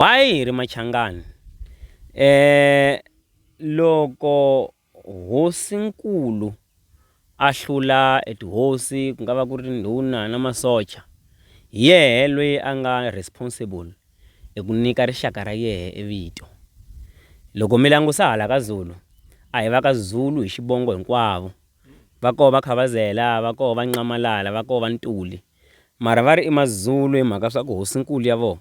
Why hi ri Machangani? loko hosinkulu a hlula e tihosi ku nga va ku ri ndhuna na masocha hi yehe loyi a nga responsible hi ku nyika rixaka ra yehe e vito loko mi langusa hala ka Zulu a hi va ka Zulu hi xivongo hinkwavo va koho va Khavazela va koho va Nxamalala va koho va Ntuli mara va ri i Mazulu hi mhaka swa ku hosinkulu ya vona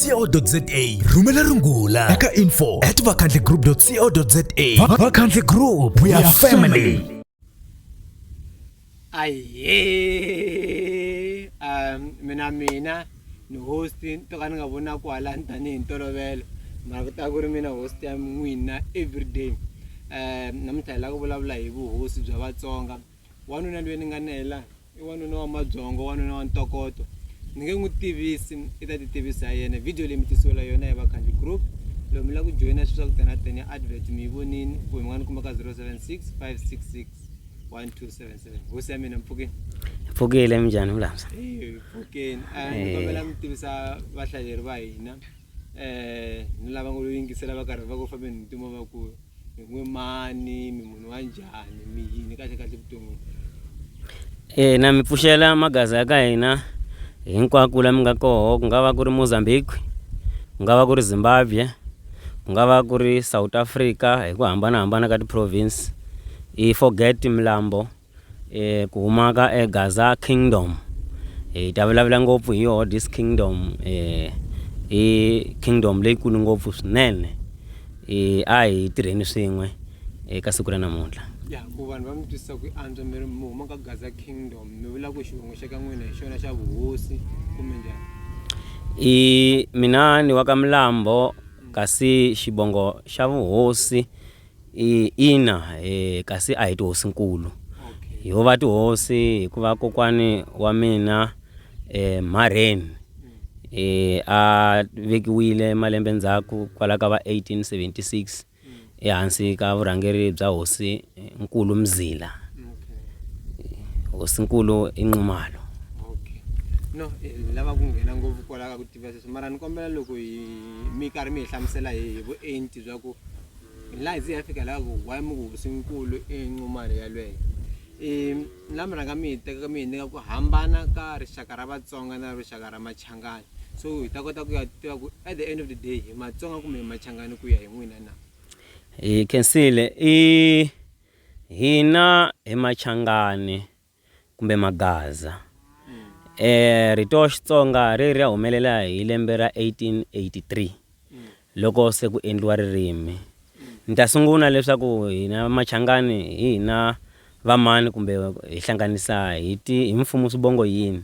vakhandlegroup.co.za rhumela rungula eka info at vakhandlegroup.co.za vakhandle group we are family aye um mina mina ni host to ka ni nga vona kwala ni tanihi ntolovelo mara ku ta ku ri mina host ya n'wina everyday um namuntlha hi lava ku vulavula hi vuhosi bya vatsonga wanuna lweyi ni nga na yela i wanuna wa mabyongo wanuna wa ntokoto ni nge n'wi tivisi i ta ti tivisa hi yena video leyi mi tisiwela yona hi vakhanji group loko mi lava ku joyina swilo swa ku tena tena advert mi yi vonini kumbe mi nga ni kuma ka 076 566 1277 hosi ya mina mpfukeni mpfukile mi njhani vulamsa mpfukeni eh, ni eh. kombela mi tivisa vahlaleri va hina um ni lava ngo lo yingisela va karhi va ku fambeni hi ntimo vakulu mi n'we mani mi munhu wa njhani mi yini kahle kahle vuton'wini ina mi pfuxela magaza ya ka hina hinkwako la mi nga koho ku nga va ku ri Mozambique ku nga va ku ri Zimbabwe ku nga va ku ri South Africa hi ku hambanahambana ka ti-province i forget milambo. E ku huma ka e Gaza Kingdom hi ta vulavula ngopfu hi yoho this kingdom e i kingdom leyikulu ngopfu swinene e a hi tirheni swin'we eka siku ra namuntlha ya ku vanhu va mi twisisa ku antswa mi ri mi huma ka Gaza Kingdom mi vula ku xivongo xa ka n'wina hi xona xa vuhosi kumbe njhani i mina ni wa ka Milambo kasi xivongo xa vuhosi ina kasi a hi tihosinkulu ho va tihosi hikuva kokwani wa mina mharheni a vekiwile malembe ndzhaku kwala ka va 1876 ehansi ka vurhangeri bya hosi nkulu Mzila hosinkulu i Nxumalo. no eh, ni lava ku nghena ngopfu kwalaho ka ku tiva sweswi mara ni kombela loko hi mi karhi mi hi hlamusela hi vuenti bya ku Nghilazi ya fika laha ku why mi ku hosinkulu i nqumalo yalweyo i la mi rhanga mi yi teka ka mi yi nyika ku hambana ka rixaka ra vatsonga na rixaka ra machangani so hi ta kota ku ya tiva ku at the end of the day hi matsonga kumbe hi machangani ku ya hi n'wina na hi khensile i hina hi machangani kumbe Magaza. E rito Xitsonga ri ri ya humelela hi lembe ra 1883 loko se ku endliwa ririmi. Ni ta sungula leswaku hina Machangani hi hina vamani kumbe hi hlanganisa hi ti hi mfumo swivongo yini.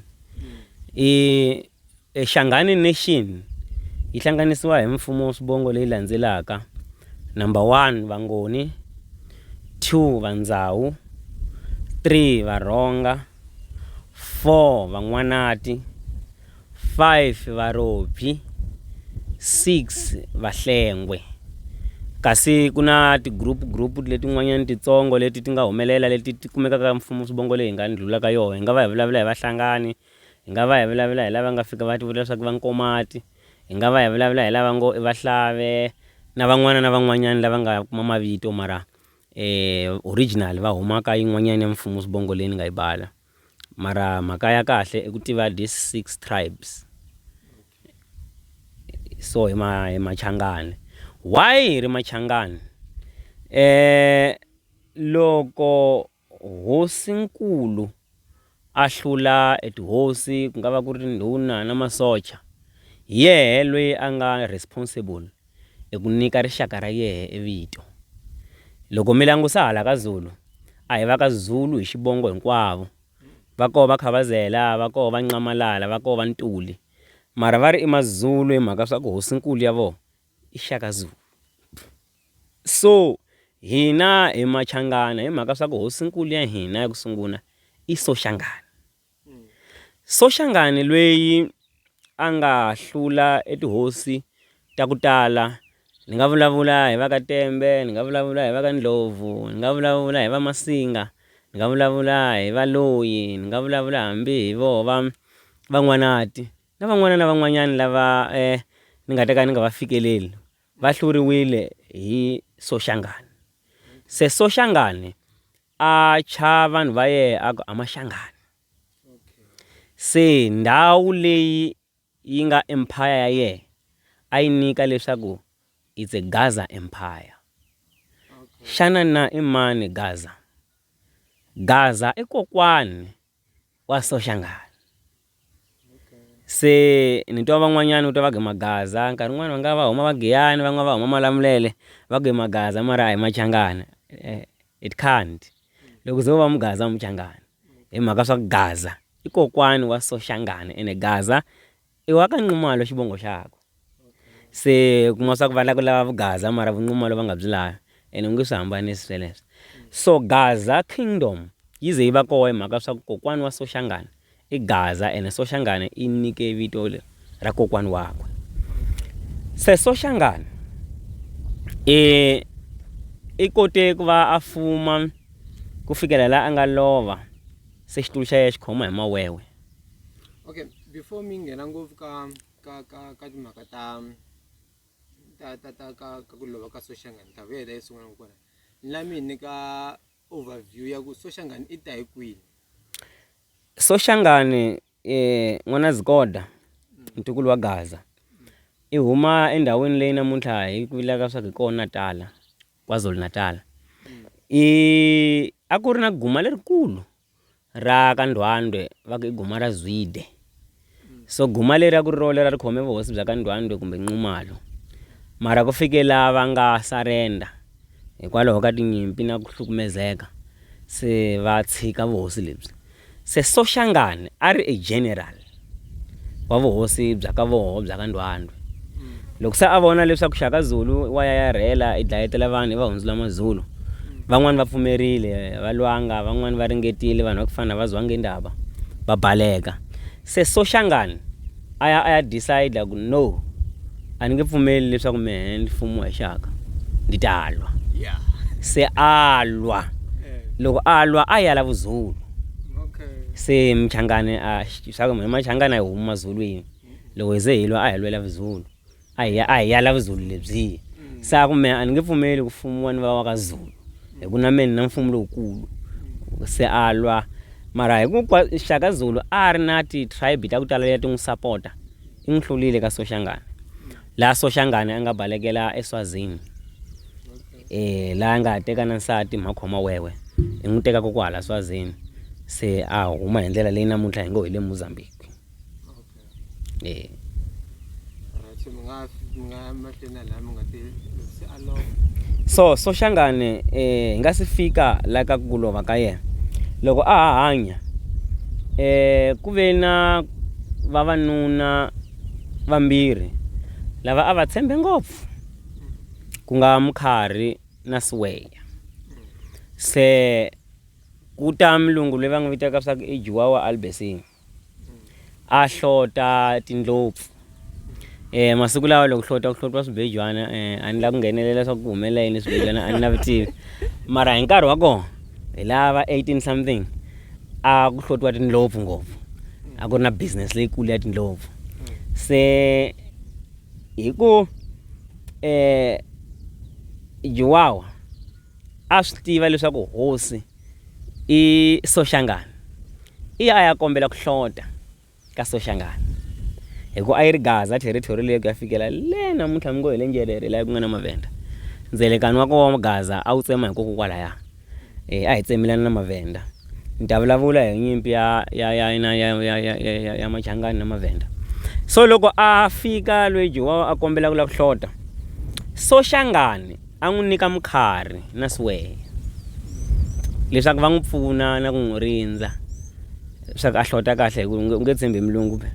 I. E Shangani Nation yi hlanganisiwa hi mfumo wa swivongo leyi landzelaka, number one Vangoni, two Vandzawu, three Varhonga, four Van'wanati, five Varobyi, six Vahlengwe. Kasi ku na ti-group group letin'wanyana titsongo leti ti nga humelela leti ti kumekaka mfumo swivongo leyi hi nga ndlhula ka yona hi nga va hi vulavula hi Vahlangani, Hi nga va hi vulavula hi lava nga fika va tivula leswaku i vankomati, hi nga va hi vulavula hi lava ngo i vahlave na van'wana na van'wanyana lava nga kuma mavito mara original va huma ka yin'wanyana ya mfumo sibongo leyi ni nga yi bala mara mhaka ya kahle i ku tiva this six tribes so hi ma hi Machangani. Why hi ri Machangani? loko. Hosi-nkulu a hlula e tihosi ku nga va ku ri tindhuna na masocha, hi yehe loyi a nga responsible e ku nyika rixaka ra yehe e vito. Loko mi langusa hala ka Zulu, a hi va ka Zulu hi xivongo hinkwavo, va koho va Khabazela, va koho va Nxamalala, va koho va Ntuli, mara va ri i maZulu hi mhaka swa ku hosi-nkulu ya voho i Shaka Zulu. So hina hi Machangana hi mhaka swa ku hosinkulu ya hina ya ku sungula i Soshangane. Soshangane lweyi a nga hlula e tihosi ta ku tala ni nga vulavula hi va ka Tembe ni nga vulavula hi va ka Ndlovu ni nga vulavula hi va Masinga ni nga vulavula hi va Loyi ni nga vulavula hambi hi vo va Van'wanati na van'wana na van'wanyani lava ni nga ta ka ni nga va fikeleli va hluriwile hi Soshangane. Se Soshangane a thya vanhu va yehe a ku, Amashangane. Se ndhawu leyi yi nga empire ya yehe a yi nyika leswaku it's a Gaza empire. Xana na i mani Gaza? Gaza i kokwani wa Soshangana se ni twa van'wanyana u ta va ge magaza nkarhi wun'wani va nga va huma va giyani van'wani va huma malamulele va ku i magaza mara a hi machangani it can't loko u ze u va mugaza a wu muchangani hi mhaka swa ku gaza i kokwana wa Soshangana ene gaza. I wa ka Nxumalo xivongo xakwe. Se u kuma swa ku va la ku lava vugaza mara vunxumalo va nga byi lavi ene u nge swi hambanisi sweleswo. So Gaza Kingdom yi ze yi va kona hi mhaka swa ku kokwana wa Soshangane i Gaza ene Soshangane i nyike vito ra kokwana wakwe. Se Soshangane i i kote ku va a fuma ku fikela la a nga lova se xitulu xa yena xi khoma hi mawewe. okay before mi nghena ngopfu ka ka ka ka timhaka ta ta ta ta ka ka ku lova ka soshangani ta vuyela yi sungula kona ni la mi hi nyika overview ya ku soshangani i ta hi kwini soshangani um n'wana zikoda ntukulu wa gaza i huma endhawini leyi namuntlha hi ku vilaka swa ku hi kona natala kwazulu natala i a ku ri na guma lerikulu ra ka Ndwandwe va ku i guma ra Zwide so guma leri a ku ri role ra ri khome vuhosi bya ka Ndwandwe kumbe Nxumalo mara ku fike la va nga surrender hikwalaho ka tinyimpi na ku hlukumezeka se va tshika vuhosi lebyi se Soshangane a ri a general wa vuhosi bya ka voho bya ka Ndwandwe. Loko se a vona leswaku Shaka Zulu wa ya ya rhela i dlayetela vanhu i va hundzula Mazulu, van'wana va pfumerile va lwanga, van'wana va ringetile, vanhu va ku fana na va Zwangendaba va baleka. Se Soshangane a ya a ya decide ku no a ni nge pfumeli leswaku mehe ni fumiwa hi Shaka, ndi ta lwa. Se a lwa, loko a lwa a ya la Vuzulu. se Muchangani a hi swa ku hina Machangani a hi humi Mazulwini loko hi ze hi lwa a hi lwela Vuzulu a hi ya a hi ya la Vuzulu lebyiya se a ku mehe a ni nge pfumeli ku fumiwa ni va wa ka Zulu hi ku na mehe ni na mfumo lowukulu se a lwa mara Shaka Zulu a ri na ti-tribe ta ku tala leti a ti n'wi sapota i n'wi hlulile ka Soshangane laha Soshangane a nga balekela eSwazini. la a nga ha teka na nsati mhakhoma wewe i n'wi tekaka ku hala swazini se a huma hi ndlela leyi namuntlha hi ngo hi le mozambique e so soxangane um eh, hi nga si fika la ka ku lova ka yena loko a ha hanya eh ku ve na vavanuna vambirhi lava a va tshembe ngopfu ku nga Mkhari na Siweya. Se ku ta mulungu loyi va n'wi vitaka swa ku i Juwa wa Albesing a hlota tindlopfu eh masiku lawa loko hlota ku hlotwa swibejwana eh a ni la ku nghenelela swa ku humelela yini swibejwana a ni na vutivi mara hi nkarhi wa kona hi lava 18 something a ku hlotiwa tindlopfu ngopfu a ku ri na business leyikulu ya tindlopfu se Hi ku Juwawa a swi tiva leswaku hosi i Soshangane, i ya a ya kombela ku hlota ka Soshangane hi ku a yi ri gaza territory leyi ku ya fikela le namuntlha mi ngo hi le Njerere laha ku nga na Mavenda. Ndzelekani wa koho Gaza a wu tsema hi kokokwalaya. a hi tsemelani na Mavhenda ni ta vulavula hi nyimpi ya ya ya ya ya ya ya ya ya Machangani na Mavhenda so loko a fika loyi Jowawa a kombela ku lava ku hlota so Xangani a n'wi nyika mukharhi na siwehe leswaku va n'wi pfuna na ku n'wi rindza leswaku a hlota kahle hi ku u nge tshembi mulungu be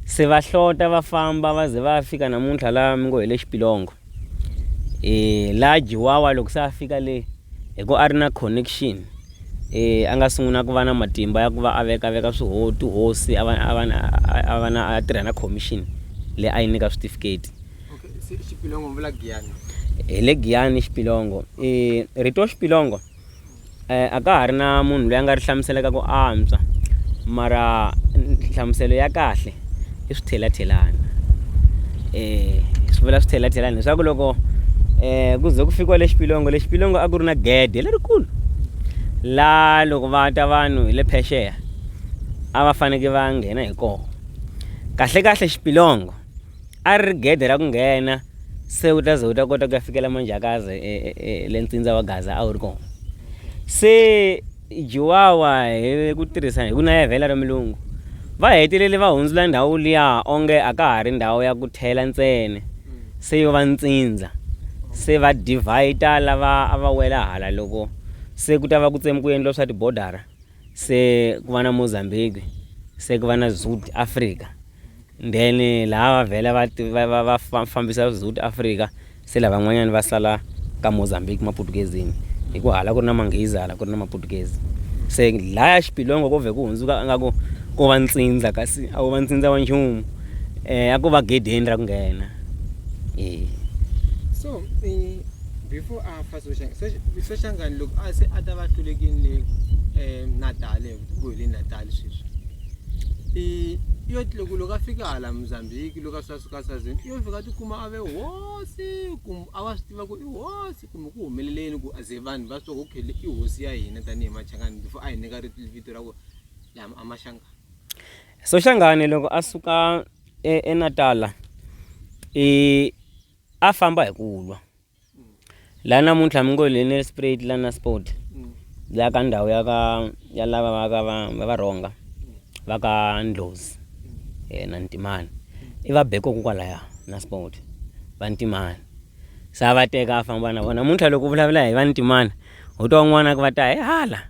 se va hlota va famba va ze va fika namuntlha laha mi ngo hi le xipilongo um la jiwawa loko se a fika le hi ku a ri na connection um a nga sungula ku va na matimba ya ku va a veka veka swiho tihosi a va a va a va na a tirha na commission leyi a yi nyika switifiketi hi le giyani xipilongo um rito xipilongo a ka ha ri na munhu loyi a nga ri hlamuselaka ku antswa mara nhlamuselo ya kahle i swithelhathelana eh swi vula swithelhathelana leswaku loko eh ku ze ku fikiwa le xipilongo le xipilongo a ku ri na gede lerikulu la loko va ta vanhu hi le phexeya a va faneke va nghena hi kona kahle kahle xipilongo A ri ri gede ra ku nghena se u ta ze u ta kota ku ya fikela Manjakazi e, e, e, le ntsindza wa Gaza a wu ri kona. Se Juwawa hi ku tirhisa hi ku nayavela ra milungu va hetelele va hundzula ndhawu liya onge a ka ha ri ndhawu ya ku thela ntsene se yo va ntsindza se va divhayita lava a va wela hala loko se ku ta va ku tsemi ku endliwa swa tibodara se ku va na Mozambique se ku va na Zut Africa Then laha va vhela va ti- va va va fa- fambisa South Africa se lavan'wanyani va sala ka Mozambique Maputukezini hi ku hala ku ri na Manghezi hala ku ri na Maputukezi se laya xipilongo ko vhe ku hundzuka a nga ku ko va ntsindza kasi a wu va ntsindza wa nchumu eh a ko va gedeni ra ku nghena eh so eh, before a fa soshangani soshangani loko a se a ta va hlulekini le um natale KwaZulu-Natal sweswi i yo loko loko a fika hala Mozambique loko a swa suka sazini i yo fika tikuma a ve hosi kumbe a va swi tiva ku i hosi kumbe ku humeleleni ku ze vanhu va swi okay i hosi ya hina tanihi machangani before a hi nyika vito ra ku lama a maxangani soxangani loko a suka e, enatala i a famba hi ku lwa la namuntlha mi ngo Lionel Spruit la na sport la ka ndhawu ya ka ya lava va ka va va va rhonga va ka ndlozi eh, na ntimani i va beko ku kwalaya na sport va ntimani se a va teka a famba na vona namuntlha loko u vulavula hi va ntimani u twa un'wana ku va ta hi hala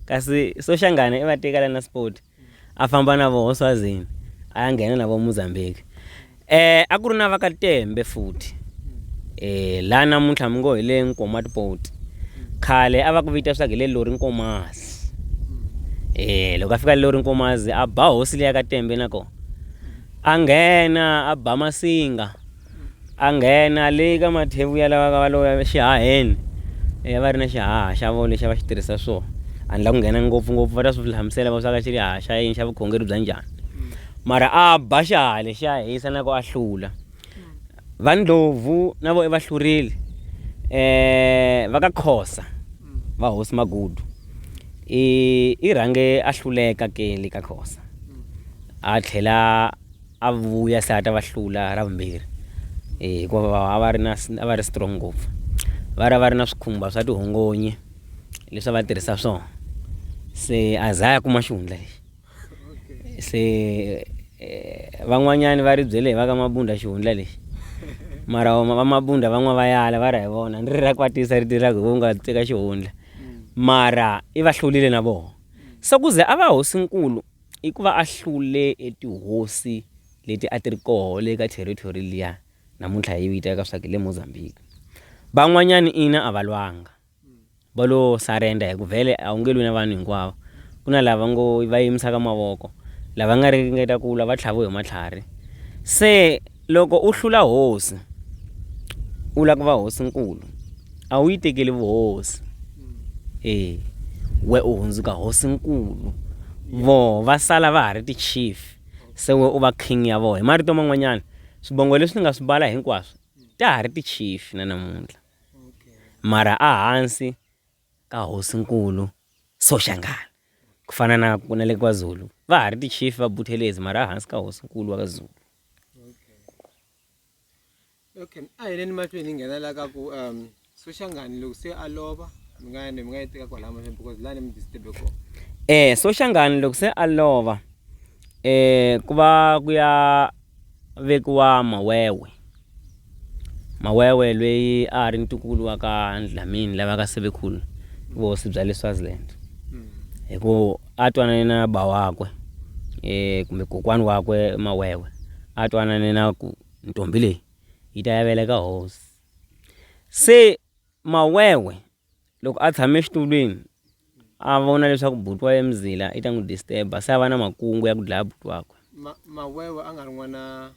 kasi soxangana i va teka la na sport a famba na voho Swazini a ya nghena na vo Mozambique eh a ku ri na va ka Tembe futhi eh la namuntlha mi ngo hi le Nkomat Port khale a va ku vita swa ku hi le Lori Nkomazi eh loko a fika Lori Nkomazi a ba hosi leya ka Tembe na kona a nghena a ba masinga a nghena le ka mathevu ya lava va lo exihaheni e va ri na xihaha xa vo lexi a va xi tirhisa swona a ni la ku nghena ngopfungopfu va ta swi hlamusela va swa ka xi ri haha xa yini xa vukhongeri bya njhani mara a ba xihaha lexiya hisa na ku a hlula va ndlhovu na vo i va hlurile um va ka khosa va hosi magudu i i rhange a hluleka ke le ka khosa a tlhela A va vuya se a ta va hlula ra vumbirhi hikuva a va ri na a va ri strong ngopfu. Va ri a va ri na swikhumba swa tihongonyi leswi a va tirhisa swona. Se a za a ya kuma xihundla lexi. Se van'wanyani va ri byele hi va ka Mabunda xihundla lexi mara va Mabunda va n'wa va yala va ri a hi vona ni ri ra kwatisa ri tirha ku hi vo nga teka xihundla mara i va hlurile na voho se ku ze a va hosinkulu. I ku va a hlule etihosi leti a ti ri koho le ka territory liya namuntlha hi yi vitaka swa ku le Mozambique van'wanyana ina a va lwanga va lo surrender hi ku vhele a wu nge lwi na vanhu hinkwavo ku na lava ngo va yimisaka mavoko lava nga ringeta ku lwa va tlhaviwe hi matlhari se Loko u hlula hosi, u lava ku va hosinkulu, a wu yi tekeli vuhosi. E, we u hundzuka hosinkulu, voho va sala va ha ri ti-chief, se we u va king ya voho. Hi marito man'wanyana, swivongo leswi ni nga swi bala hinkwaswo, ta ha ri ti-chief na namuntlha. Mara a hansi. ka Hosinkulu Soshangana ku fana na ku na le KwaZulu va ha ri ti chief va Buthelezi mara hansi ka Hosinkulu wa ka Zulu okay a hi leni mahlweni hi nghena la ka ku um Soshangani loko se a lova mi nga ni mi nga yi teka kwalaya mahlweni because lani mi disturbe kona eh Soshangani loko se a lova eh ku va ku ya Vekiwa Mawewe. Mawewe lweyi a a ri ntukulu wa ka Ndlamini lava ka Sebekhulu vuhosi bya le Swaziland hi ku a twanane na ba wakwe kumbe kokwani wakwe Mawewe a twanane na ku ntombi leyi yi ta ya veleka hosi se Mawewe Loko a tshame exitulwini a vona leswaku buti wa ye Mzila i ta n'wi disturb-a se a va na makungu ya ku dlaya buti wakwe. Ma Mawewe a nga ri n'wana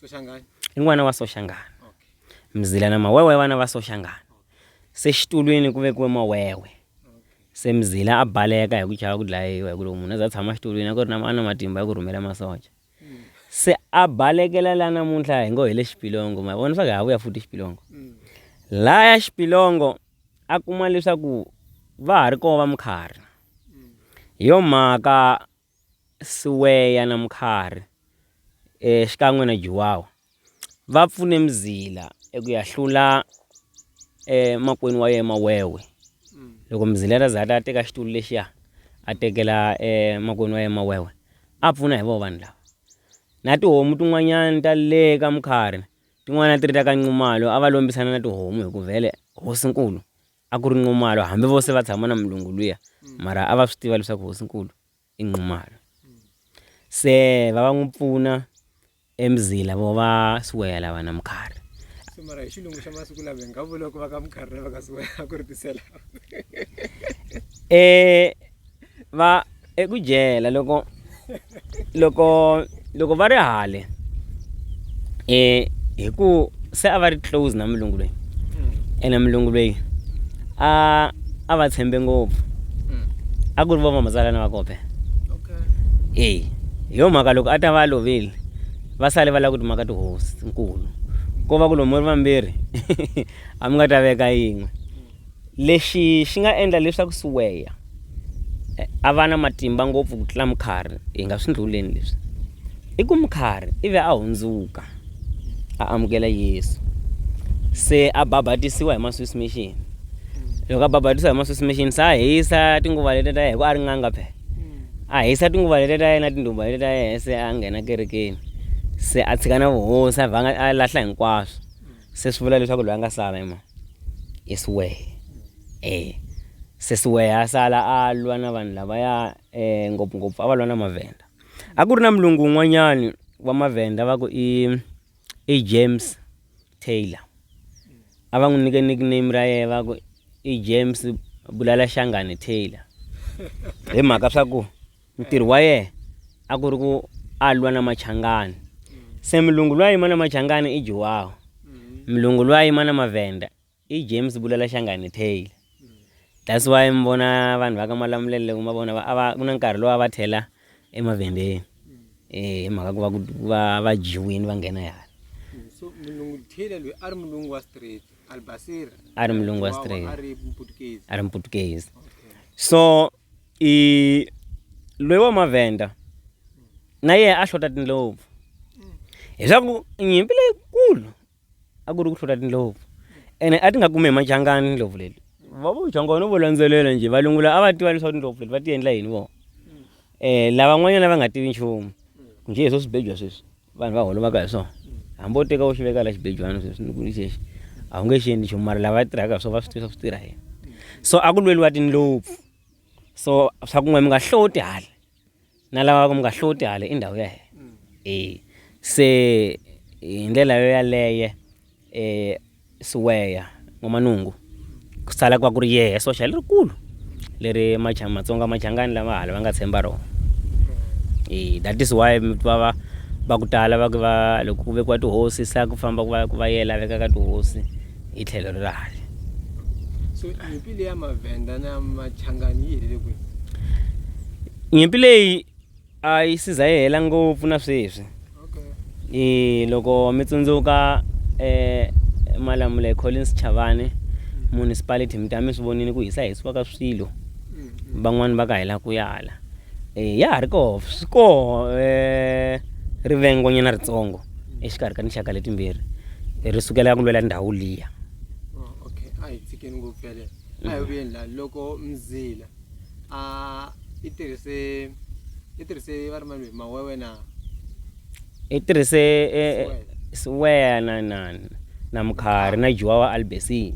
Soshangani? I n'wana wa Soshangani. Okay. Mzila na Mawewe vana va Soshangani. Se xitulwini ku vekiwe Mawewe. Se Mzila a baleka hi ku chava ku dlayiwa hi ku loko munhu a za a tshama xitulwini a ku ri na a na matimba ya ku rhumela masocha. se a balekela la namuntlha hi ngo hi le xipilongo ma vona swa ku ha vuya futhi xipilongo mm. laya xipilongo a kuma leswaku va ha ri kona va mukharhi mm. hi yo mhaka siweya na mukharhi um xikan'we na juwawa va pfune Mzila eku ya hlula emakwenu wa yena Mawewe loko Mzila a za a teka xitulu lexiya a tekela emakwenu wa yena Mawewe a pfuna hi vona vanhu lava na tihomu tin'wanyana ta le ka Mkhari tin'wana a ti ri ta ka Nxumalo a va lombisana na tihomu hi ku vhele hosinkulu a ku ri Nxumalo hambi vo se va tshama na mulungu luya mara a va swi tiva leswaku hosinkulu. i Nxumalo. Se va va n'wi pfuna eMzila vo va Siweya lava na Mukharhi. Se mara hi xilungu xa masiku lava hi nga vula ku va ka Mukharhi lava ka Siweya ku ri tisela. Eh va eku dyela loko loko loko va ri hale um hi ku se a va ri close na mulungu loyi hmm. ene mulungu loyi a a va tshembe ngopfu hmm. a ku ri vo vamazalana va kope e hi yo mhaka loko a ta va lovile va sale va lava ku timaka tihosi nkulu ko va ku lomu ri vambirhi a mi nga ta veka yin'we Lexi xi nga endla leswaku Siweya a va na matimba ngopfu ku tlula Mukhari, hi nga swi ndlhuleni leswi. I ku Mukhari i ve a hundzuka, a amukela Yesu, se a babatisiwa hi maswisi mixini. Loko a babatisiwa hi maswisi mixini, se a hisa tinguva letiya ta yena, hikuva a ri n'anga phela. A hisa tinguva letiya ta yena, tindhuva letiya ta yena, se a nghena kerekeni, se a tshika na vuhosi, a vhanga a lahla hinkwaswo. se swi vula leswaku loyi a nga sala i mani i siwehe e se siwehe a sala a lwa na vanhu lavaya um ngopfungopfu a va lwa na mavhenda a ku ri na mulungu un'wanyani wa mavhenda va ku i i james taylor a va n'wi nyike nickname ra yena va ku i james bulala xangane taylor hi mhaka swa ku Ntirho wa yena a ku ri ku a lwa na Machangani. Se mulungu loyi a yima na Machangani i Juwaho. Mulungu loyi a yima na Mavenda i James Bulela Shangani Taylor. That's why mi vona vanhu va ka Malamulele loko ma vona va a va ku na nkarhi lowu a va tlhela eMavendeni. E hi mhaka ku va ku va va dyiwini va nghena hala. So mulungu Taylor loyi a ri mulungu wa straight, Albasira. A ri mulungu wa Juwaho straight. A ri Muputukezi. a ri Muputukezi. Okay. So i loyi wa mavhenda na yena a hlota tindlopfu hileswaku nyimpi leyikulu a ku ri ku hlota tindlopfu ene a ti nga kumi hi machangani tindlopfu leti va vo changwa no vo landzelela njhe valungu lava a va tiva leswaku tindlopfu leti va ti endla yini vona um lavan'wanyana va nga tivi nchumu njhe hi swo swi bebya sweswi vanhu va holomaka hi swona hambi wo teka wo xi veka la xibejwana sweswi ni ku ni xexi a wu nge xi endli nchumu mara lava tirhaka hi swona va swi tiva swi tirha yena so a ku lweliwa tindlopfu so swa ku n'we mi nga hloti hala na lava ku mi nga hloti hala i ndhawu ya hina e se hi ndlela yo yaleye E Siweya, N'wamanungu, ku sala ku va ku ri yehe soxa lerikulu leri macha, Matsonga machangani lama hala va nga tshemba rona. E, that is why mi twa va va ku tala va ku va loko ku vekiwa tihosi sa ku famba ku va ku va yela veka ka tihosi hi tlhelo ri rale so nyimpi leyi ya mavhenda na machangani yi helele kwihi nyimpi leyi A yi si za yi hela ngopfu na sweswi. I loko mi tsundzuka eh, Malamula Collins Chavani municipality mi ta mi swi vonile ku hisa hisiwa ka swilo van'wani va ka hela ku yala eh, ya ha ri koho swi koho eh, rivengonyana ritsongo exikarhi ka tinxaka letimbirhi Eh, ri sukela ku lwela ndhawu liya Oh, okay a hi tshikeni ngopfu yaleyo a hi vuyeni la loko mzila a i tirhise i tirhise va ri mani mawewe na i tirhise siweya na na na mukhari na juwa wa albesini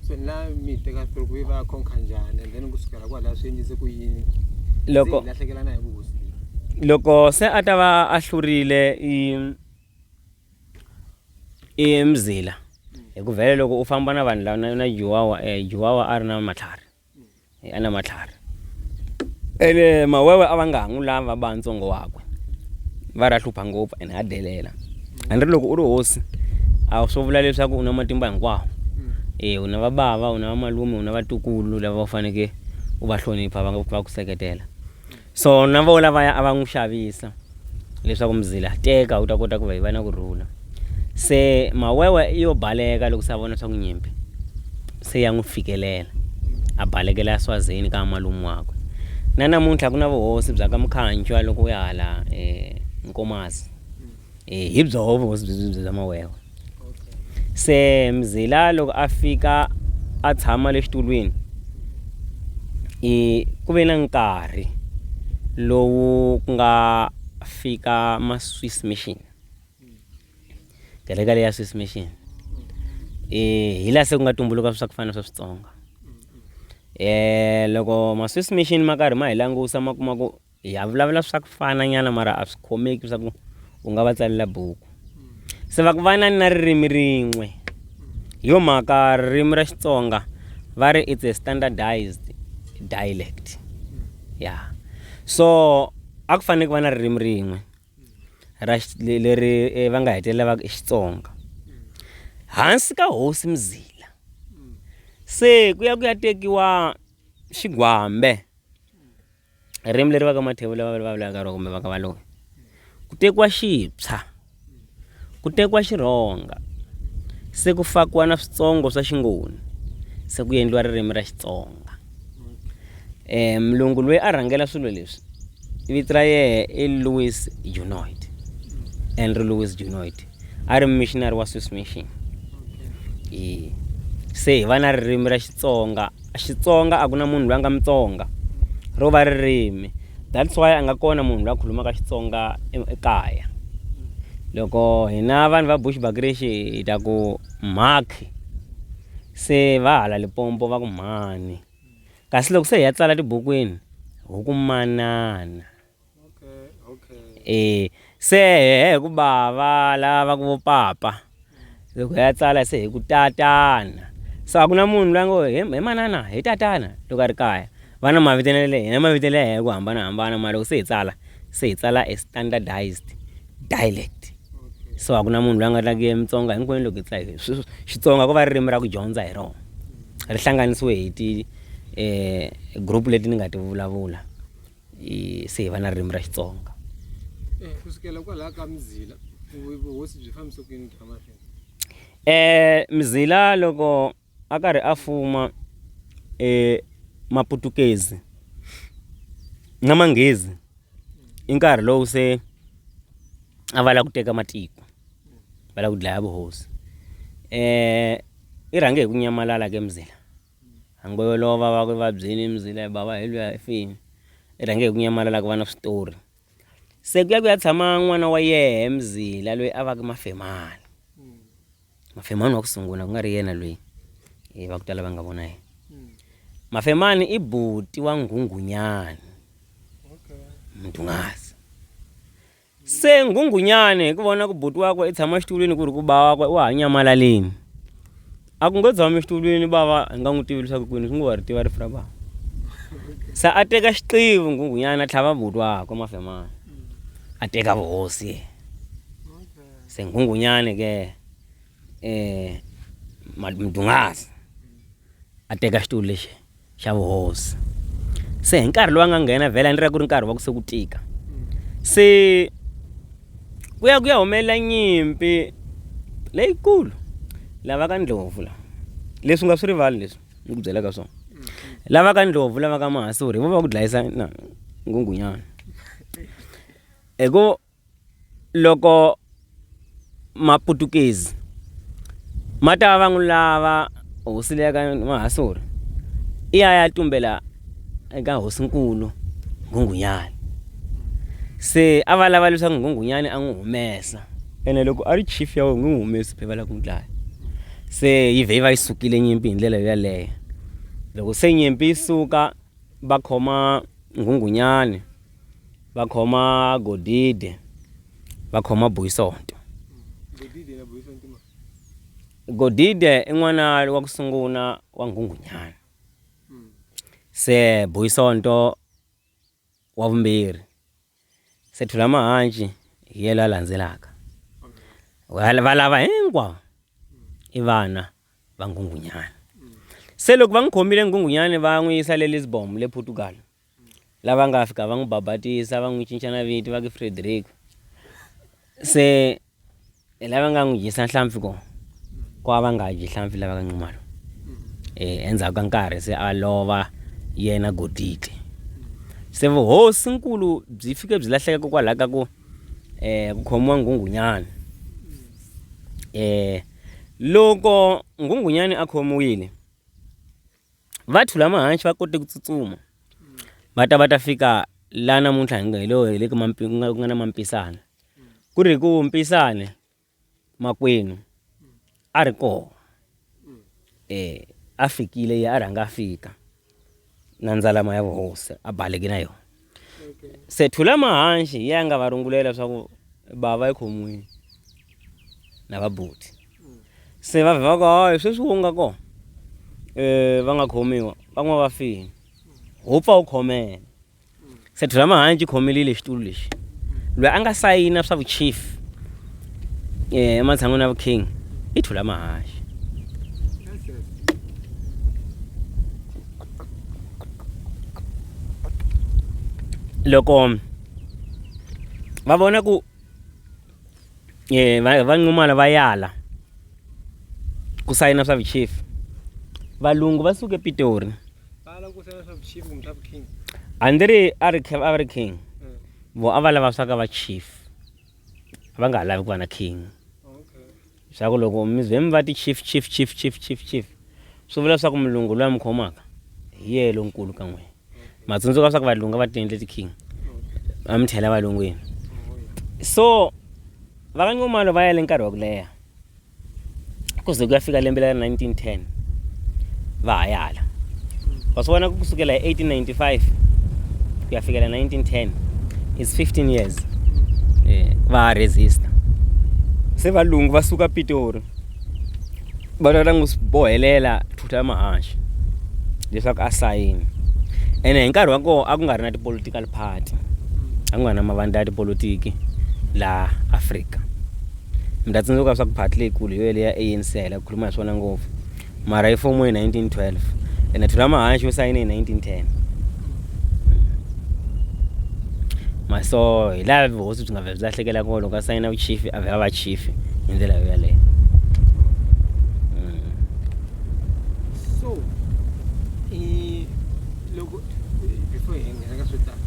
so na mi teka through ku va khonka njhani and then kusukela kwalaho swi endlise ku yini loko lahlekelana hi vuhosi loko se a ta va a hlurile i i mzila hi ku vhele loko u famba na vanhu lava na juwawa um juwawa a ri na matlhari a na matlhari ene mawewe a va nga ha n'wi lava va ntsongo wakwe va ra hlupha ngopfu ene ha delela a ni ri loko u ri hosi a swo vula leswaku u na matimba hinkwawo e u na vabava u na vamalume u na vatukulu lava u faneke u va hlonipha va va ku seketela So na vo lavaya a va n'wi xavisa leswaku mzila teka u ta kota ku va yi va na ku rhula se mawewe yo baleka loko se a vona swa ku nyimpi se ya n'wi fikelela a balekela ya swazini ka malume wakwe na namuntlha ku na vuhosi bya ka mukhanjwa loko u ya hala um nkomasi um hi byoho vuhosi bya mawewe se mzila loko a fika a tshama le xitulwini i ku ve na nkarhi lowu ku nga fika ma swiss mission kereke leyi ya swiss mission um hi laha se ku nga tumbuluka swa ku fana na swa switsonga um loko ma swiss mission ma karhi ma hi langusa ma kuma ku ya vulavula swa ku fana nyana mara a swi khomeki swa ku u nga va tsalela buku se va ku vana ni na ririmi rin'we hi yo mhaka ririmi ra xitsonga va ri it's a standardized dialect ya yeah. so a ku fanele ku va na ririmi rin'we ra leri eh, va nga hetelela va i xitsonga hansi ka hosi mzila se ku ya ku ya tekiwa xigwambe Ririmi leri va ka Mathevula va ri vulavulaka ha rona kumbe va ka Valoyi ku tekiwa xipsha ku tekiwa xirhonga se ku fakiwa na switsongo swa xingoni se ku endliwa ririmi ra Xitsonga mulungu loyi a rhangela swilo leswi vito ra yehe i Louis Genoud Andrew Louis Genoud a ri missionary wa Swiss mission se hi va na ririmi ra Xitsonga. Xitsonga a ku na munhu loyi a nga Mutsonga ro va ririmi that's why a nga kona munhu loyi a khulumaka Xitsonga ekaya loko hina vanhu va Bushbuckridge hi ta ku mhakhi se va hala Limpopo va ku mhani kasi loko se hi ya tsala tibukwini hi ku manana. e se hi ku bava lava ku vo papa loko hi ya tsala se hi ku tatana so a ku na munhu loyi ngo he he manana hi tatana loko a ri kaya va na mavito na le hina mavito le hi ku hambanahambana mara loko se hi tsala se hi tsala e standardised dialect so a ku na munhu loyi a nga like mutsonga hinkwenu loko hi tsala hi sweswo xitsonga ko va ririmi ra ku dyondza hi rona ri hlanganisiwe hi ti group leti ni nga ti vulavula. se hi va na ririmi ra xitsonga eh, ku sukela kwalaha ka mizila vuhosi byi fambise ku yini byi famba swini eh mizila loko a karhi a fuma eh maputukezi na manghezi i nkarhi lowu se a va la ku teka matiko va la ku dlaya vuhosi eh i rhange hi ku nyamalala ke mzila Hango yo lova va ku i vabyini Mzila i bava hi luya i fini i rhange hi ku nyamalala ku va na switori se ku ya ku ya tshama n'wana wa yehe Mzila loyi a va ku Mafemani Mafemani wa ku sungula ku nga ri yena loyi hi va ku tala va nga vona yena Mafemani i buti wa Nghunghunyani Mdungazi Se nghunghunyani hi ku vona ku buti wakwe i tshama xitulwini ku ri ku ba wakwe wa ha nyamalaleni a ku ngo tshami xitulwini bava hi nga n'wi tivi leswaku kwini swi ngo wa ri tiva rifu ra bava se a teka xiqivi nghunghunyana a tlhava buti wakwe mafemana a teka vuhosi ye se nghunghunyani ke um mdungasi a teka xitulu lexi xa vuhosi se hi nkarhi lowu a nga nghena vhele a ni ri ku ri nkarhi wa ku se ku tika se ku ya ku ya humelela nyimpi leyikulu lava ka ndlovu la leswi nga swi rivali leswi ni ku byelaka swona lava ka ndlovu lava ka mahasuri hi vo va ku dlayisa na ngungunyana hi ku Loko Maputukezi ma ta va n'wi lava hosi leyi ka Mahasuri i ya ya tumbela eka hosinkulu Nghunghunyani se a va lava leswaku Nghunghunyani a n'wi humesa ene loko a ri chief ya wena n'wi humesi va lava ku n'wi dlaya se yi vhe yi va yi sukile nyimpi hi ndlela yaleyo loko se nyimpi yi suka va khoma Nghunghunyani. va khoma godide va khoma boyisonto godide i n'wana wa ku sungula wa nghunghunyana se boyisonto wa vumbirhi se thula mahanci hi yena la landzelaka va lava hinkwavo i vana va nghunghunyana se loko va n'wi khomile nghunghunyana va n'wi yisa le lisbon le portugal lava nga fika va n'wi babatisa va n'wi cinca na vito va ke frederico se hi lava nga n'wi dyisa nhlampfi ko ko a va nga dyi nhlampfi lava ka nxumalo um endzhaku ka nkarhi se a lova yena goditi se vuhosinkulu byi fike byi lahleka kokwalaho ka ku um ku khomiwa nghunghunyana um loko nghunghunyani a khomiwile Vathu lama hanci va kote ku tsutsuma va ta va ta fika la namuntlha hi nga hi lo hi le ku mampi ku nga ku nga na mampisana ku ri hi ku mpisane makwenu a ri kona eh a fikile ye a rhanga a fika na ndzalama ya vuhosi a baleke na yona. se thula mahanxi hi yanga va rungulela leswaku bava ekhomwini na vabuti se va vhe va ku hayi sweswi wo nga kona um va nga khomiwa van'wana va fini ho pfa u khomela se thula mahanxi khomelile xitulu lexi loyi a nga sayina swa vuchief um eh, ematshan'wini ya vuking i thula mahanxi loko va vona ku va va nxumalo va yala ku sayina swa vuchief valungu va suke epitori a ndzi ri a ri a ri king vo a va lava swa ka va chief va nga ha lavi ku va na king Swa ku loko mi ze mi va ti chief, chief, chief, chief, chief, chief, swi vula leswaku mulungu loyi a mi khomaka hi yena lonkulu ka n'wina. Ma tsundzuka leswaku valungu a va tiendle ti-king, va mi chela evalungwini. So va ka Nxumalo va yele nkarhi wa ku leha ku ze ku ya fika lembe leri 1910 va ha ya hala. wa swi vona ku kusukela hi 1895 ku ya fikela 1910 is 15 years eh, va resista se valungu va suka pitori va lava n'wi bohelela thutha ya mahaxi leswaku a sayini ene hi nkarhi wa koho a ku nga ri na ti-political party a ku nga ri na mavandla ya tipolotiki laha afrika mi ta tsundzuka leswaku party leyikulu hi yo leya anc hela ku khuluma hi swona ngopfu mara i fomo hi 1912 ene thulamahanxi u sayine hi 1910 ma so hi laha vuhosi byi nga vhe byi lahlekela kona loko a sayina vuchifi a vhe a va chifi hi ndlela yo yaleyo Mm. so eh, loko eh, before hi nghena ka swo tala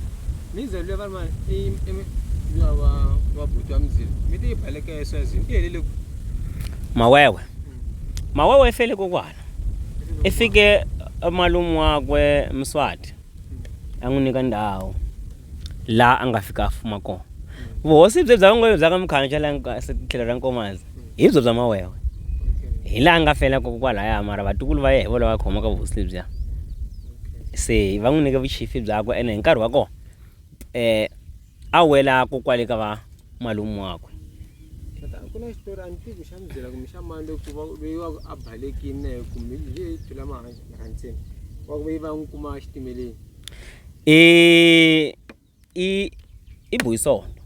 mizalo leyi va ri ma i- i- mi- luya wa wa buti wa mizilo mi te yi baleka eswazini i helele ku mawewe Mawewe efele kokwana. Efike malume wakwe Mswati a n'wi nyika ndhawu laha a nga fika a fuma kona. Vuhosi bye bya vangwewe bya ka Mkhanca la tlhelo ra Nkomazi hi byo bya Mawewe. Hi laha nga fela koko kwalaya mara vatukulu va ye hi vona va khomaka vuhosi lebyiya. Se va n'wi nyike vuchifi byakwe ene hi nkarhi wa kona . A wela ko kwale ka va malume wakwe. Tata ku na xitori a ni tivi ku xa mi byela kumbe xa mani loyi ku va loyi wa ku a balekini na yena kumbe hi leyi phela mahantseni wa ku ve va n'wi kuma exitimeleni i i i boyisonto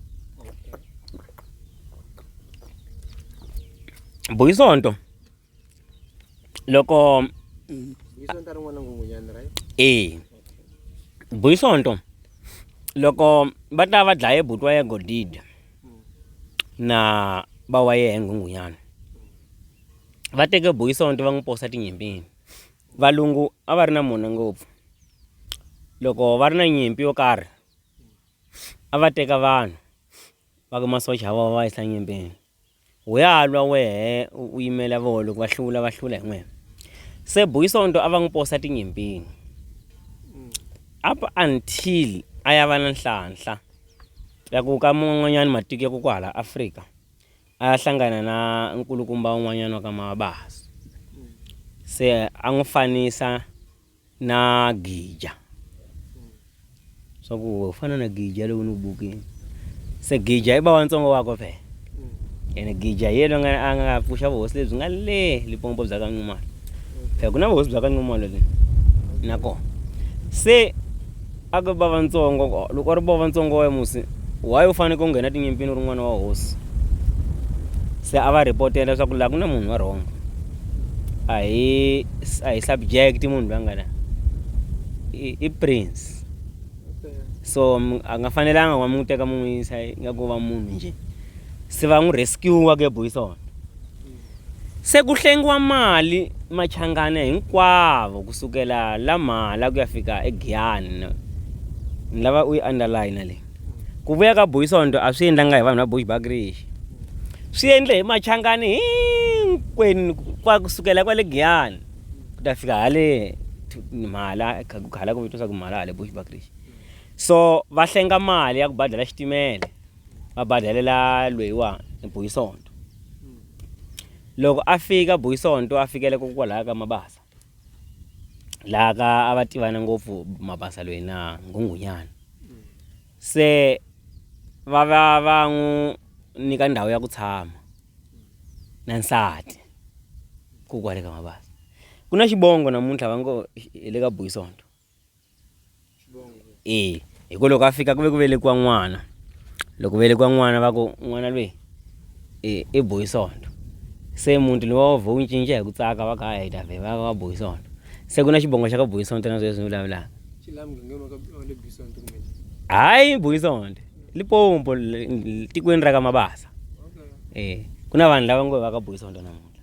boyisonto loko e buyisonto loko va ta va dlaye buti wa ye godide na ba wa ye nghunghunyana va teke buyisonto va n'wi posa tinyimpini valungu a va ri na mona ngopfu loko va ri na nyimpi yo karhi a va teka vanhu va ka masocha ya vona va yisa nyimpini. U ya lwa wehe u yimela voho loko va hlula va hlula hi n'wina. Se Boy Sonto a va n'wi posa tinyimpini up until a ya va na nhlanhla ya ku ka man'wanyana matiko ya ku kwahala Afrika a ya hlangana na nkulukumba un'wanyana wa ka Mabasa se a n'wi fanisa Na Gija. Swa ku u fana na Gija lowu ni wu bukini. Se Gija i bawantsongo wakwe phela. Ene Gija hi yena a nga a nga pfuxa vuhosi lebyi nga le Limpopo bya ka Nxumalo. Phela ku na vuhosi bya ka Nxumalo le nakona. Se. Aka bava ntsongo, loko a ri bava ntsongo wa Musi, why u faneke u nghena tinyimpini u ri n'wana wa hosi? Se a va report-ela leswaku laha ku na munhu wa wrong. A hi a hi subject munhu loyi a nga la. I i prince. So a nga fanelanga wa n'wi teka mi n'wi yisa ingaku u va munhu njhe. Se va n'wi rescue-a ke boys . Se ku hlengiwa mali Machangana hinkwavo ku sukela la Mhala ku ya fika eGiyani ni lava u yi underline leyi ku vuya ka Boyisonto a swi endlanga hi vanhu va Bushbuckridge swi endle hi Machangani hinkwenu kwa ku sukela kwale Giyani ku ta fika hale Mhala ku khala ku vitwa swa ku Mhala hale Bushbuckridge so va hlenga mali ya ku badela xitimela va badalela lweyiwani Boyisonto. Loko a fika Boy Sonto a fikela ko kwalaya ka Mabasa laha ka a va tivana ngopfu Mabasa loyi na Nghunghunyana se va va va n'wi nyika ndhawu ya ku tshama na nsati kokwale ka Mabasa ku na xivongo namuntlha va ngo hi le ka Boy Sonto. eya hi ku loko a fika ku ve ku velekiwa n'wana loko velekiwa n'wana va ku n'wana lweyi i i bohi sondo se muti lowu a wu vhe wu cinca hi ku tsaka va ka hayi hi ta vhe va va bohi sondo se ku na xivongo xa ka bohi sondo na sweswi ni vulavulaka hayi bohi sondo lipompo tikweni ra ka mabasa e ku na vanhu lava ngo va ka bohi sondo namuntlha.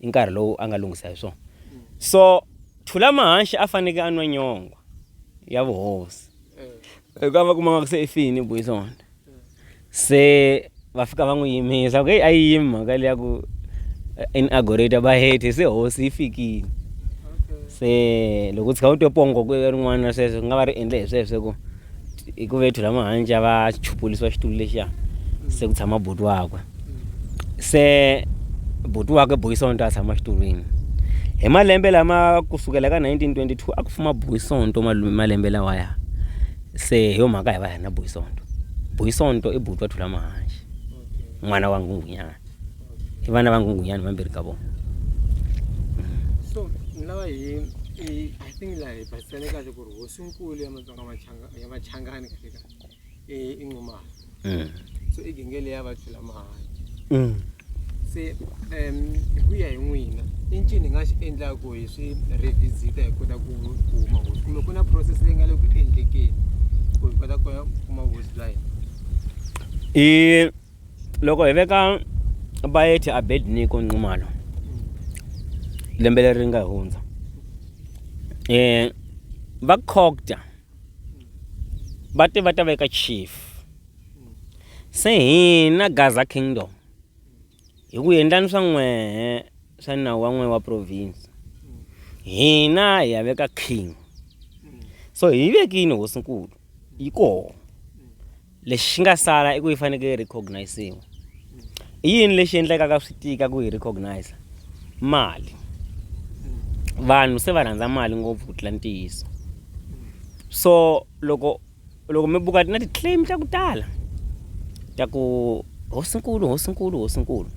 i nkarhi lowu a nga lunghisa hi swona so thula mahanxi a faneke a nwa nyongwa ya vuhosi hikuva va kumaka se i fini boyi swona se va fika va n'wi yimisa ku heyi a yi yimi mhaka leyi ya ku eh, in agorate va hete se hosi yi fikile se loko u tshika u twe pongo ku rin'wana sweswo ku nga va ri endle hi sweswo ku hi ku vethu lama hanja va chupulisiwa xitulu lexiya se ku tshama buti wakwe se buti wakwe buyisonto a tshama xitulwini hi malembe lama ku sukela ka 1922 a ku fuma buyisonto malume malembe lawaya se hi yo mhaka hi va hi ri na buyisonto buyisonto i buti wa thula mahanxi n'wana wa nghunghunyana i vana va nghunghunyana vambirhi ka vona so ni lava hi i think laha hi basisane kahle ku ri hosinkulu ya Yabachanga- yabachangani katika eh, inxumalo Eh. so igenge leyi ya va tlula mahanyi Mm. se um hi ku ya hi n'wina i ncini hi nga xi endlaku hi swi revisita hi kota ku ku huma hosi kumbe ku na process leyi nga le ku endlekeni ku hi kota ku ya kuma hosi bya hina i Loko hi veka Bayethe Abednego Nxumalo lembe leri nga hundza eh va Cogta va te va ta veka chief se hina Gaza Kingdom hi ku endlani swa n'wehe swa nawu wa n'we wa province hina hi ya veka king so hi vekini hosinkulu yi kona lexi xi nga sala i ku yi fanekele yi recognisiwa i yini lexi endlekaka swi tika ku yi recognize mali vanhu se va rhandza mali ngopfu ku tlula ntiyiso so loko loko mi buka na ti-claim ta ku tala ta ku hosinkulu hosinkulu hosinkulu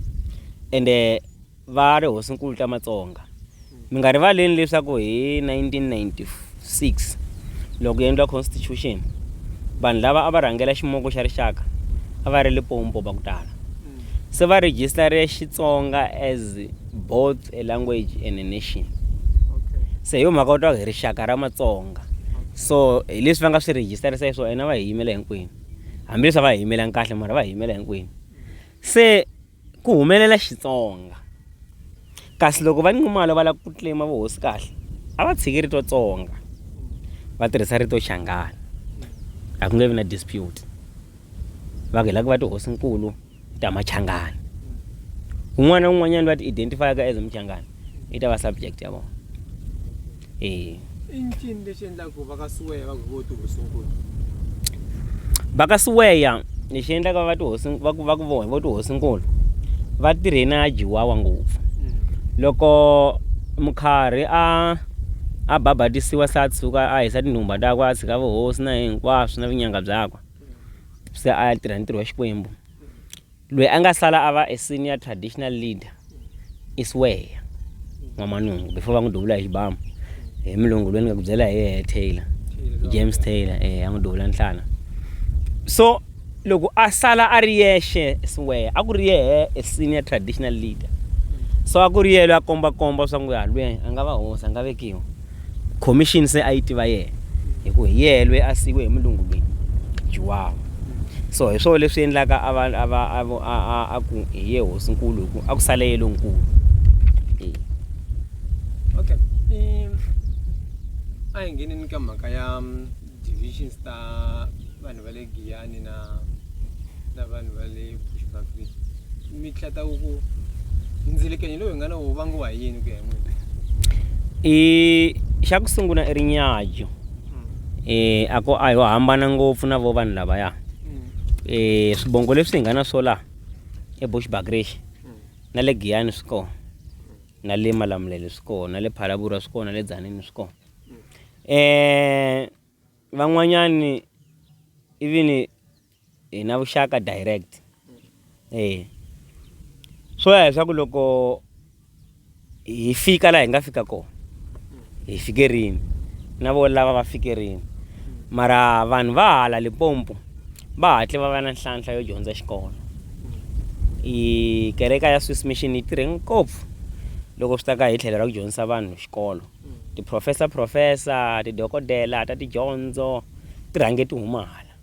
ende Va ri, Hosinkulu ta Matsonga, mi nga rivaleni leswaku hi 1996 loko ku endliwa Constitution, vanhu lava a va rhangela Ximoko xa Rixaka a va ri Lipompo va ku tala. Se va rhijisitare Xitsonga as both a language and a nation. Se hi yo mhaka va twa hi rixaka ra Matsonga. So hi leswi va nga swi rhijisitarisa hi swona va hi yimela hinkwenu. Hambileswi a va hi yimelanga kahle mara va hi yimela hinkwenu. Se. Ku humelela Xitsonga. Kasi loko va Nxumalo va lava ku claim vuhosi kahle a va tshiki rito Tsonga va tirhisa rito Xangana a ku nge vi na dispute va ku hi lava ku va tihosinkulu ta Machangana un'wana na un'wanyana loyi a ti identify-aka as Muchangana yi ta va subject ya vona e i ncini lexi endlaku va ka siweya va ku vo tihosinkulu va ka siweya lexi endlaka va tihosi va ku va ku vo hi vo tihosinkulu va tirhe na jiwawa ngopfu mm. loko mukharhi a a babatisiwa se a tshuka a hisa tinhumba takwe a tshika vuhosi na hinkwaswo na vunyanga byakwe mm. se a ya tirha ntirho wa xikwembu Loyi a nga sala a va e senior traditional leader i Sweya N'wamanungu before va n'wi duvula hi xibamu hi mulungu loyi ni nga ku byela hi yehe Taylor James Taylor eh a n'wi duvula nhlana so loko a sala a ri yexe Sweya a ku ri yehe e senior traditional leader so a ku ri yelo a komba komba swa ku ya lweyi a nga va hosi a nga vekiwa khomixini se a yi tiva yena hi ku hi yena loyi a siyiwe hi mulungu loyi juwawa so hi swona leswi endlaka a va a va a ku hi ye hosinkulu hi ku a ku sale ye lonkulu okay a hi ngeneni ka mhaka ya divisions ta vanhu va le giyani na na vanhu va le bushbakri mi hlata ku ku ndzilikenyo lowu hi nga na wo vangiwa hi yini ku ya hi n'wina i xa ku sungula i ri nyajo um hmm. a ko a yo hambana ngopfu na vo vanhu lavaya um swibongo leswi hi nga na swo laha ebushbakrish hmm. na le giyani swi kona na le malamulele swi kona na le phalabura swi kona na le dzanini swi kona eh van'wanyani even hi na vuxaka direct e swo ya leswaku loko hi fika laha hi nga fika kona hi fike rini na vo lava va fike rini mara vanhu va hala lipompo va hatle va va na nhlanhla yo dyondza xikolo i kereka ya swiss mission yi tirhe ngopfu loko swi ta ka hi tlhelo ra ku dyondzisa vanhu xikolo tiphurofesa-phurofesa, tidokodela ta tidyondzo ti rhange ti huma hala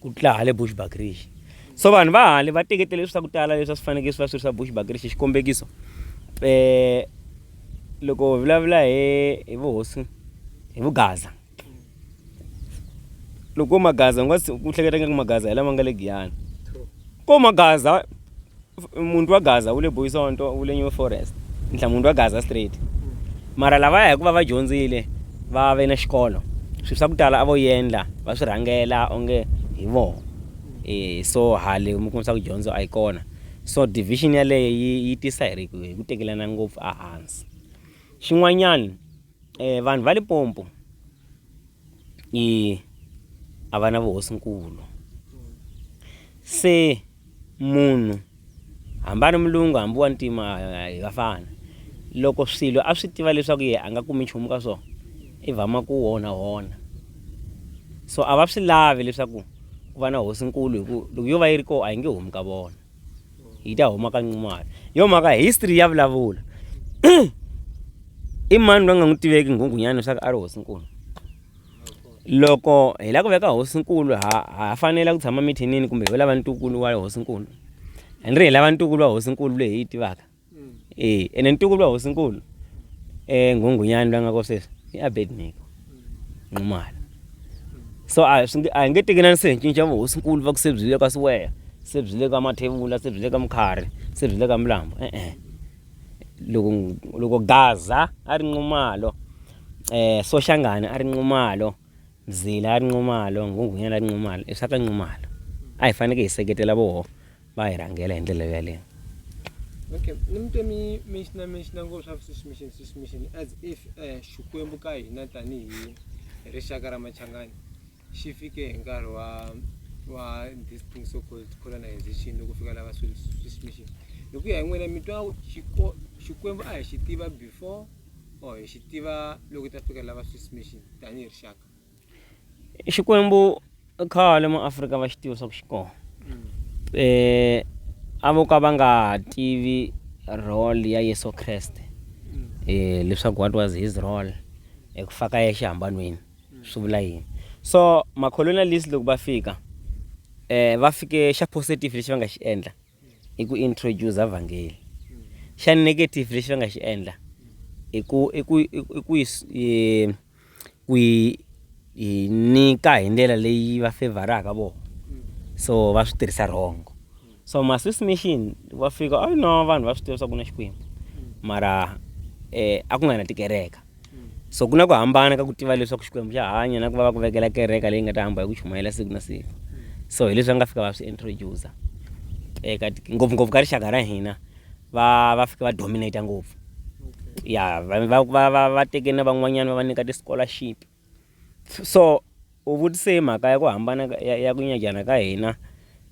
ku tlula hale Bushbuckridge. So vanhu va hale va teketele leswi swa ku tala leswi a swi fanekele swi va swi ri swa Bushbuckridge. Xikombekiso, loko hi vulavula hi vuhosi hi vugaza, loko ko magaza u nga ku hleketa nga ku magaza hi lama nga le giyani ko magaza munhu wa gaza wu le boyisonto wu le new forest ntlha munhu wa gaza straight mara lavaya hikuva va dyondzile va ve na xikolo swilo swa ku tala a vo yendla va swi rhangela onge hi vona um so hale mi kumisa ku dyondzo a yi kona so division yaleyo yi yi tisa hi ri hi ku tekelana ngopfu ehansi xin'wanyana E, vanhu va Limpopo i a va na vuhosinkulu se munhu hambi a ri mulungu hambi wa ntima hi va fana loko swilo a swi tiva leswaku ye a nga kumi nchumu ka swona i vama ku wona wona so a va swi lavi leswaku ku va na hosinkulu hi ku loko yo va yi ri kona a yi nge humi ka vona yi ta huma ka nqumalo yo mhaka history ya vulavula i mani loyi nga n'wi tiveki nghunghunyana leswaku a ri hosinkulu loko hi lava ku veka hosinkulu ha ha fanela ku tshama mithinini kumbe hi lava ntukulu wa hosinkulu hi ri hi lava ntukulu wa hosinkulu leyi hi yi tivaka Eh ene ntuku lwa hosinkulu eh ngungunyani lwa nga kosesa i Abednego Nxumalo so a swi nge a hi nge tekelani se hi cinca vu hosinkulu va ku se byi le ka Siweya se byi le ka Mathevula se byi le ka Mkhari se byi le ka Mlambo e-e loko loko Gaza a ri Nxumalo Soshangane a ri Nxumalo Zila a ri Nxumalo Nghunghunyana a ri Nxumalo i swa ka Nxumalo a hi faneke hi seketela voho va hi rhangela hi ndlela yaleyo okay ni mi twe mi menxina menxina ngo swa swiss mission swiss mission as if um xikwembu ka hina tanihi rixaka ra machangani xi fike hi nkarhi wa wa this thing so called colonization loko fika lava swiss mission hi ku ya hi n'wina mi twa xikwembu a hi xi tiva before or hi xi tiva loko ta fika lava swiss mission tanihi rixaka Xikwembu khale ma Afrika va xi tiva swa ku xi kona eh a vo ka va nga tivi role ya Yesu Kreste eh leswaku what was his role eku fa ka ye xihambanweni swi vula yini so ma colonialist loko va fika eh va fike xa positive lexi va nga xi endla i ku introducer vhangeli xa negative lexi va nga xi endla i ku i ku i ku yi ku yi nyika hi ndlela leyi va favoraka vona so va swi tirhisa wrong so ma swiss mission va fika a no vanhu va swi tiva swa ku na xikwembu mara eh a ku nga na tikereka So ku na ku hambana ka ku tiva leswaku Xikwembu xa hanya na ku va va ku vekela kereka leyi nga ta hamba hi ku chumayela siku na siku. So hi leswi va nga fika va swi introducer eka ngopfungopfu ka rixaka ra hina va va fike va dominate ngopfu ya va va va va va teke na van'wanyana va va nyika ti-scholarship So u vutise hi mhaka ya ku hambana ya, ya ku nyajana ka hina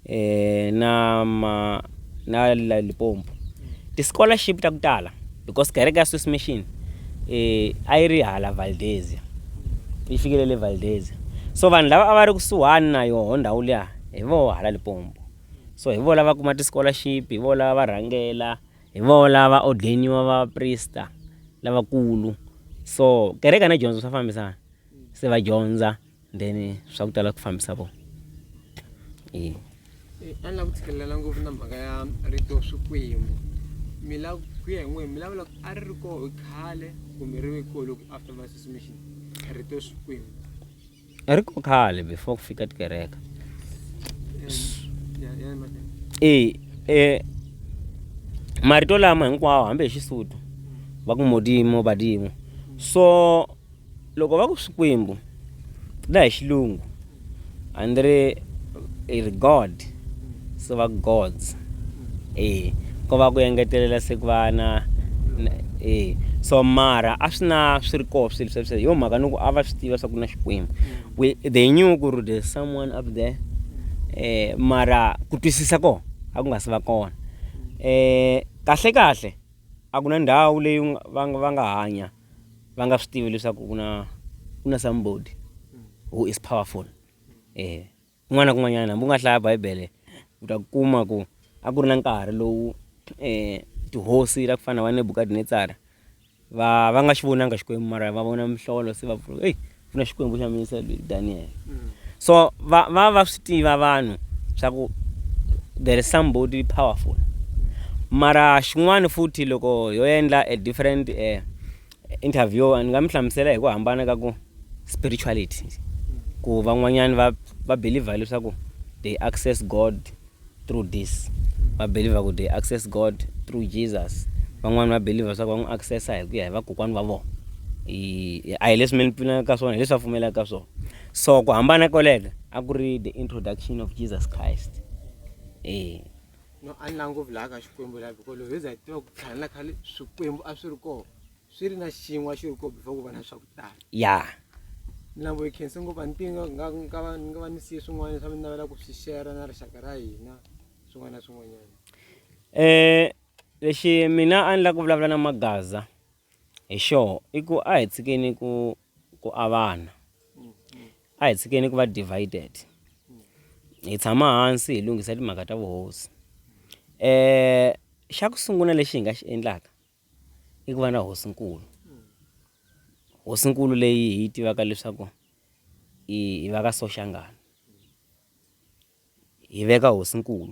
eh na ma na la Limpopo ti-scholarship ta ku tala because kereke ya Swiss Mission eh a yi ri hala Valdezia yi fikile le Valdezia so vanhu lava a va ri kusuhani na yoho ndhawu liya hi voho hala Limpopo so hi vo lava kuma ti-scholarship hi vo lava va rhangela Hi voho lava va ordeniwa va prista lavakulu so kereka na dyondzo swa fambisana se va dyondza then swa ku tala ku fambisa vona e a ni lava ku tshikelela ngopfu na mhaka ya rito swikwembu mi lava ku ya hi n'wehe mi lavula a ri ri koho khale kumbe ri ve koho loko after masusumation rito swikwembu I ri ku khale before ku fika tikereke e e marito lama hinkwawo hambi hi xisutu va ku modimo badimo so loko va ku swikwembu na hi xilungu andri i ri god se va gods Eya, ko va ku engetelela se ku va na na eya so mara a swi na swi ri koho swilo sweswo hi yo mhaka ni ku a va swi tiva swa ku na Xikwembu we they knew ku ri there's someone up there um mara ku twisisa kona a ku nga si va kona um kahlekahle a ku na ndhawu leyi u nga va nga va nga hanya va nga swi tivi leswaku ku na ku na somebody who is powerful eya. kun'wana na kun'wanyana hambi u nga hlaya bibele u ta kuma ku a ku ri na nkarhi lowu tihosi ta ku fana na va nebukadnetsara va va nga xi vonanga xikwembu mara va vona mihlolo se va pfuna eyi ku na xikwembu xa mina se daniel mm. so va va va swi tiva vanhu swa ku there is somebody powerful mara xin'wana futhi loko yo endla a different um Interviewer, Ni nga mi hlamusela hi ku hambana ka ku spirituality ku van'wanyani va va believer leswaku they access God through this va believer ku they access God through Jesus van'wani va believer leswaku va n'wi accessa hi ku ya hi vakokwani va vona i a hi leswi mi ni pfunaka ka swona hi leswi va pfumelaka ka swona so ku hambana koleke a ku ri the introduction of Jesus Christ e no a ni la ngopfu laha ka xikwembu laha biko loko hi za hi tiva ku khale na khale swikwembu a swi ri kona swi ri na xin'wa xi ri kona before ku va na swa ku tala ya ni lambo hi khense ngopfu a ni tivi nga nga va ni nga va ni siye swin'wana leswi a ni navela ku swi share na rixaka ra hina swin'wana na swin'wanyana um lexi mina a ni lava ku vulavula na magaza Hi xoho i ku a hi tshikeni ku ku avana a hi tshikeni ku va divided hi tshama hansi hi lunghisa timhaka ta vuhosi um xa ku sungula lexi hi nga xi endlaka i ku va na hosinkulu hosinkulu leyi hi yi tivaka leswaku i va ka soshangana hi veka hosinkulu .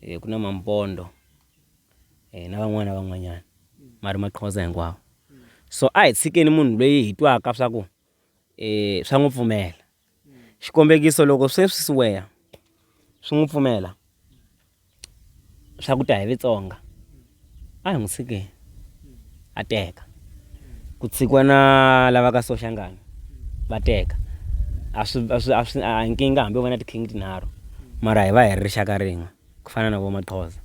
eh, ku na mampondo eh, na van'wana van'wanyana ma ri maqhoza hinkwawo so a hi tshikeni munhu loyi hi twaka swa ku eh, swa n'wi pfumela xikombekiso loko sweswi siweya swi n'wi pfumela swa ku ta hi vitsonga A hi n'wi tshike a teka. Ku tshikiwa na lava ka Soshangana va teka. A swi a swi a swi a nkingha hambi va na ti-king tinharhu mara hi va hi ri rixaka rin'we ku fana na vo Maxhosa.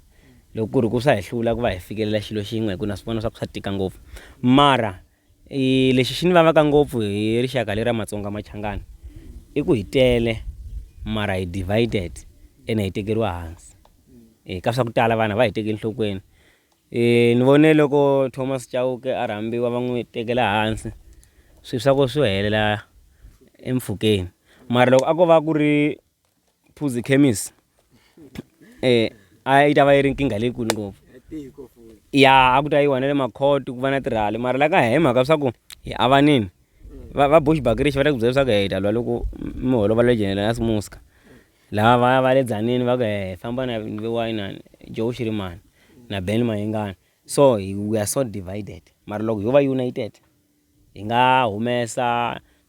Loko ku ri ku swa hi hlula ku va hi fikelela xilo xin'we hi ku na swi vona swa ku swa tika ngopfu mara I lexi xi ni vavaka ngopfu hi rixaka leri ra Matsonga Machangana i ku hi tele mara hi divided ene hi tekeriwa hansi e ka swa ku tala vanhu va hi tekeli nhlokweni e ni vone loko Thomas Chauke a rhambiwa va n'wi tekela hansi swi swa ku swi helela empfhukeni mara loko a ko va ku ri Phuzi khemisi a yi ta va yi ri nkingha leyikulu ngopfu ya a ku ta yiwa na le makhoti ku va na tirhali mara la ka hi mhaka swa ku hi avanini va va bush bakirichi va ta ku byela leswaku hi ta lwa loko mi holova le generous muska lava va va le dzanini va ku hi famba na inani joe xirimani na ben mayengani so hi we are so divided mara loko ho va united hi nga humesa.